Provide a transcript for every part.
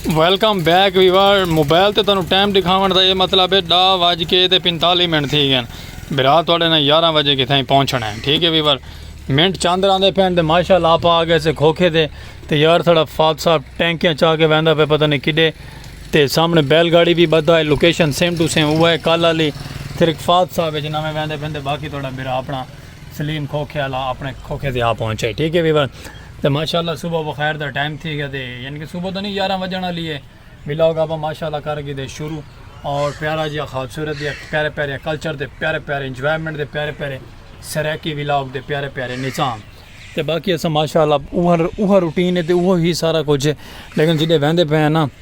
Welcome back viewer mobile تے تانوں time دکھاون دا یہ مطلب ہے ڈا وج کے تے پنتالی منٹ تھی گئے برا تھوڑے نہ یارہ وجے کتھائیں پہنچنا ہے ٹھیک ہے ویور منٹ چاند راندے پہن دے ماشاء اللہ آپ آ گئے سے کھوکھے دے تے یار تھوڑا فات صاحب ٹینکیاں چاہ کے ویندا پہ پتہ نہیں کڈے تے سامنے بیل گاڑی بھی بدھا ہے لوکیشن سیم ٹو سیم ہوا ہے کالا لی تھرک فات صاحب جنہاں میں ویندے پہن دے باقی تھوڑا برا اپنا سلیم کھوکھے والا اپنے کھوکھے سے آ پہنچے ٹھیک ہے ویور تو ماشاء اللہ صبح بخیر دا ٹائم تھی گیا دے یعنی کہ صبح تو نہیں یارہ وجن والی ہے ولاگ آپ ماشاء اللہ کر گئے دے شروع اور پیارا جی خوبصورت دے پیارے پیارے کلچر دے پیارے پیارے انجوائمنٹ دے پیارے پیارے سریکی ولاگ دے پیارے پیارے نظام تو باقی اصل ماشاء اللہ اوہ روٹین ہے تو وہ ہی سارا کچھ ہے لیکن جیسے وہدے پہ ہیں نا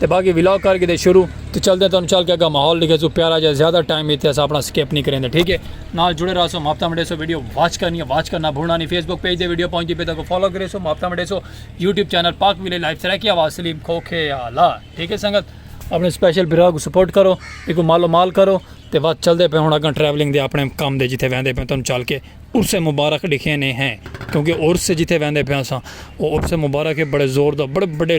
تے باقی ولاگ کر کے دے شروع تے چل دے تانوں چل کے اگا ماحول لکھے سو پیارا جا زیادہ ٹائم ایتھے اسا اپنا سکپ نہیں کریں دے ٹھیک ہے نال جڑے رہا سو ماپتا مڈے سو ویڈیو واچ کرنی ہے واچ کرنا بھولنا نہیں فیس بک پیج دے ویڈیو پہنچ دی پہ تاکو فالو کرے سو ماپتا مڈے سو یوٹیوب چینل پاک ویلے لائف سرکی آواز سلیم کھوکھے آلا ٹھیک ہے سنگت اپنے سپیشل برا کو سپورٹ کرو ایک مال و مال کرو تے بات چل دے پہ ہوں اگاں ٹریولنگ دے اپنے کام دے جتے ویندے پہ تانوں چل کے عرس مبارک لکھے نے ہیں کیونکہ عرس جتے ویندے پہ اسا وہ عرس مبارک ہے بڑے زور دا بڑے بڑے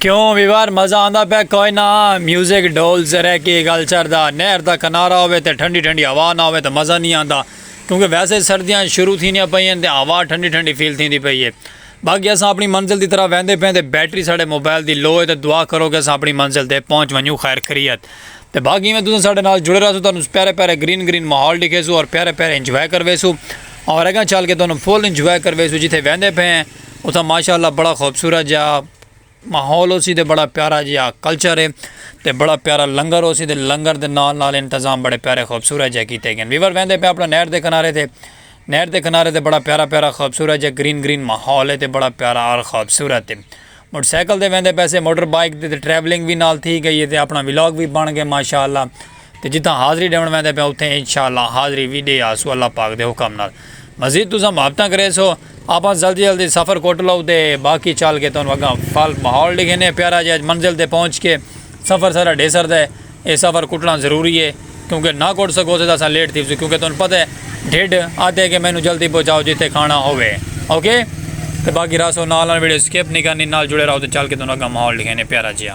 کیوں ویوار مزہ آندا پہ کوئی نہ میوزک ڈول سے رہ کے گل چر دا نہر دا کنارہ ہوئے تے ٹھنڈی ٹھنڈی ہوا نہ ہوئے تے مزہ نہیں آندا کیونکہ ویسے سردیاں شروع تھینیاں پئیاں تے ہوا ٹھنڈی ٹھنڈی فیل تھیندی پئی ہے باقی اساں اپنی منزل دی طرف ویندے پئے تے بیٹری ساڈے موبائل دی لو ہے تے دعا کرو کہ اساں اپنی منزل تے پہنچ ونجوں خیر خریت تے باقی ایویں تساں ساڈے نال جڑے رہسو تانوں پیارے پیارے گرین گرین ماحول ڈکھیسو اور پیارے پیارے انجوائے کرویسو اور اگاں چل کے تانوں فل انجوائے کرویسو جتھے ویندے پئے ہیں اتھاں ماشاءاللہ بڑا خوبصورت جا ماحول ہوسی تے بڑا پیارا جیہا کلچر ہے تے بڑا پیارا لنگر ہوسی تے لنگر دے نال نال انتظام بڑے پیارے خوبصورت جیہے کیتے گئے ویور ویندے پئے اپنا نہر دے کنارے تے نہر دے کنارے تے بڑا پیارا پیارا خوبصورت جیہا گرین گرین ماحول ہے تے بڑا پیارا اور خوبصورت ہے موٹر سائیکل تے ویندے پئے سے موٹر بائیک تے ٹریولنگ وی نال تھی گئی ہے تے اپنا ولاگ وی بن گئے ماشاءاللہ تے جتھاں حاضری ݙیوݨ ویندے پیاں اتھیں انشاءاللہ حاضری وی ݙے آسوں اللہ پاک دے حکم نال مزید تساں محبتاں کریسو آپاں جلدی جلدی سفر کٹ لو تے باقی چل کے تہانوں اگاں پھل ماحول ݙکھینے پیارا جئے اج منزل تے پہنچ کے سفر ساݙا ڈھے سردا ہے اے سفر کٹݨا ضروری ہے کیونکہ نہ کٹ سکوسے تاں اساں لیٹ تھیوسوں کیونکہ تہانوں پتہ ہے ڈھڈ آہدے کہ مینوں جلدی پہنچاؤ جتھے کھاݨا ہووے اوکے تے باقی راسو نال نال ویڈیو سکپ نہیں کرنی نال جڑے رہو تے چل کے تہانوں اگاں ماحول ݙکھینے پیارا جیا۔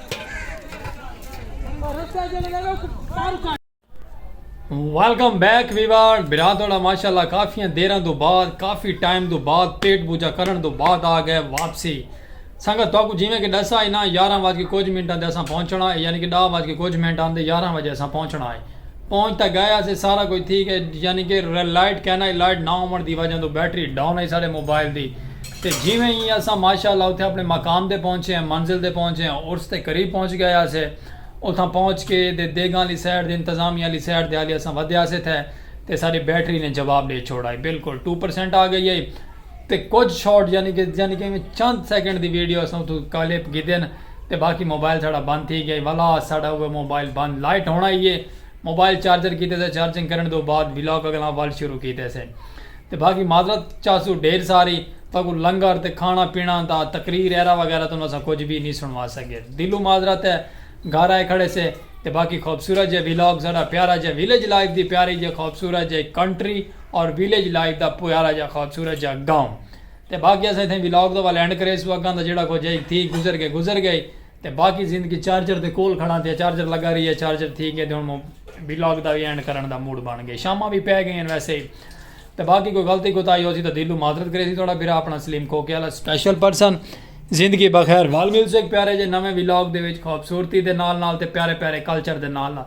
ویلکم بیک ویوار برا توڑا ماشاءاللہ کافی دیران دو بعد کافی ٹائم دو بعد پیٹ بوجا کرن دو بعد آ گئے واپسی سنگت تو کو جیویں کہ ڈسا اینا یارہ واج کے کچھ منٹاں دے اساں پہنچنا ہے یعنی کہ ڈاہ واج کے کچھ منٹاں دے یارہ واج اساں پہنچنا ہے پہنچ تاں گئے ہاسے سارا کجھ تھی گئے یعنی کہ لائٹ کینائی لائٹ نہ ہوون دی وجہ توں بیٹری ڈاون ہئی ساڈے موبائل دی تے جیویں ای اساں ماشاء اللہ اتھے اپنے مقام تے پہنچے ہیں منزل تے پہنچے ہیں عرس دے قریب پہنچ گئے ہاسے اتھاں پہنچ کے دے دیگاں آلی سائیڈ دے انتظامیہ آلی سائیڈ دے حالی اساں ودھے ہاسے تھے تے ساڈی بیٹری نے جواب ڈے چھوڑائی بلکل ٹو پرسنٹ آ گئی ہئی تے کجھ شارٹ یعنی کہ یعنی کہ چند سیکنڈ دی ویڈیو اساں اتھوں کلپ گھدے ن تے باقی موبائل ساڑا بند تھی گیا والا ساڑا اوہ موبائل بند لائٹ ہونا ہی ہے موبائل چارجر کیتے سے چارجنگ کرن دو بعد ولاگ اگلا وال شروع کیتے سے تے باقی معذرت چاسو ڈھیر ساری تاکو لنگر تے کھانا پینا دا تقریر ایرا وغیرہ تو نسا کچھ بھی نہیں سنوا سکے دلو معذرت ہے گھر آئے کھڑے سے تے باقی خوبصورت جے ولاگ ساڑا پیارا جے ویلیج لائف دی پیاری جے خوبصورت جے کنٹری اور ویلیج لائف دا پیارا جا خوبصورت جا گاؤں تے باقی اساں اتھاں ولاگ دا لینڈ کریسوں اگاں دا جیڑا کچھ ہئی تھی گزر گئے گزر گئے تے باقی زندگی چارجر دے کول کھڑاں تے چارجر لگا رہی ہے چارجر تھی گئے تے ہن ولاگ دا وی اینڈ کرن دا موڈ بن گئے شاماں وی پے گئین ویسے تے باقی کوئی غلطی کوتاہی ہوسی تاں دلوں معذرت کریسی تہاڈا بھرا اپنا سلیم کھوکے والا سپیشل پرسن زندگی بخیر وال ملسے ایک پیارے جے نویں ولاگ دے وچ خوبصورتی دے نال نال تے پیارے پیارے کلچر دے نال نال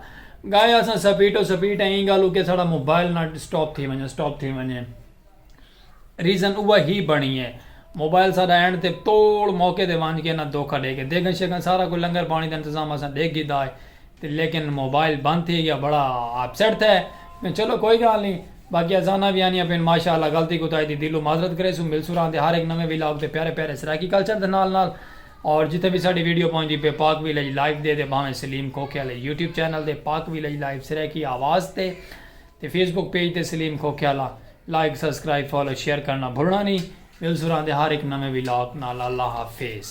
گائے اساں سپیٹ و سپیٹ ہیں ایں گالوں کہ ساڑا موبائل نہ سٹاپ تھی ونجے سٹاپ تھی ونجے ریزن اوہ ہی بنی ہے موبائل ساڑا اینڈ تے توڑ موقع دے وانج کے نہ دھوکا دے کے دیگن شیگن سارا کوئی لنگر پانی دا انتظام اساں دیکھ گی دا ہے تے لیکن موبائل بند تھی گیا بڑا اپسیٹ تھے میں چلو کوئی گال نہیں باقی ازانہ بھی آنی اپین ماشاءاللہ غلطی کو تائی دی دلو معذرت کرے سو مل سو رہاں دے ہر ایک نویں ویلاگ تے پیارے پیارے سرائیکی کلچر دے نال نال اور جتھے وی ساڈی ویڈیو پہنچدی پئے پاک ویلج لائیو دے تے بھانویں سلیم کھوکھے آلے یوٹیوب چینل دے پاک ویلج لائیو سرائیکی آواز تے تے فیس بک پیج تے سلیم کھوکھے آلا لائک سبسکرائب فالو شیئر کرنا بھلنا نی ملسراں دے ہر ہک نویں ولاگ نال اللہ حافظ۔